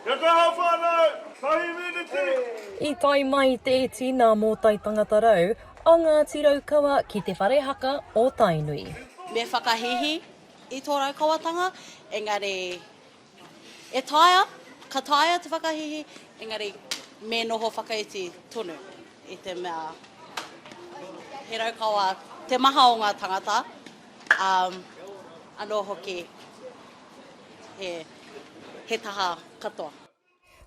Kia kaha whanau, tahi miniti. I tae mai te iti nā Mōtai Tangata Rau a Ngāti Raukawa ki te whare haka o Tainui. Me whakahīhī i tō Raukawatanga, engari e taea, ka taea te whakahīhī, engari me noho whakaiti tonu i te mea he Raukawa te maha o ngā tangata, ā, anō hoki. he taha katoa.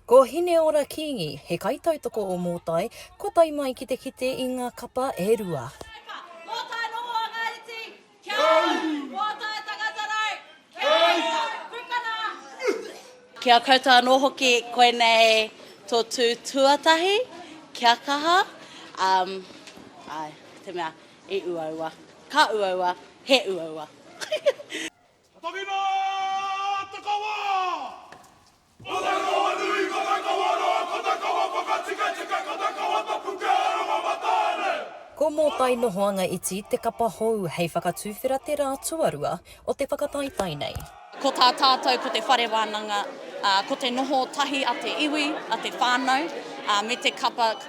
Ko Hineora Kingi, he kaitautoko o Mōtai, kua tae mai ki te kite i ngā kapa e rua. Mōtai noho a ngā iti, kia ora! Mōtai tangata rau, kia ora! Pukana! Ki a koutou anō hoki, koinei tō tū tuatahi, kia kaha, um, ai, te mea, i uaua, ka uaua, he uaua. Tangina! Takawa! Ko ta kawa nui, ko ta kawa roa, ko ta kawa whakatikatika, ko ta kawa tapu kia aronga matane! Ko Mōtai Nohoanga Iti te kapa hou hei whakatuwhera te rā tuarua o te whakataetae nei. Ko tā tātou ko te whare wānanga, ko te noho tahi a te iwi, a te whānau, me te kapa.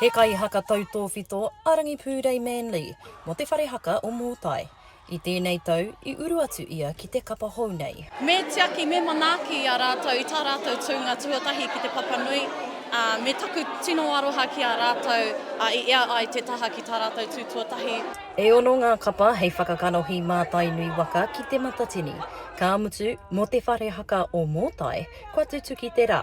He kaihaka tautōwhito a Rangipūrei Manley mō te whare haka o Mōtai. I tēnei tau, i uru atu ia ki te kapa hou nei. Me tiaki, me manaaki i a rātou i tā rātou tūnga tuatahi ki Te Papanui, ā, me taku tino aroha ki a rātou i ea ai te taha ki tā rātou tū tuatahi. E ono ngā kapa hei whakakanohi mā Tainui waka ki Te Matatini. Ka mutu, mō te whare haka o Mōtai, kua tutuki te rā.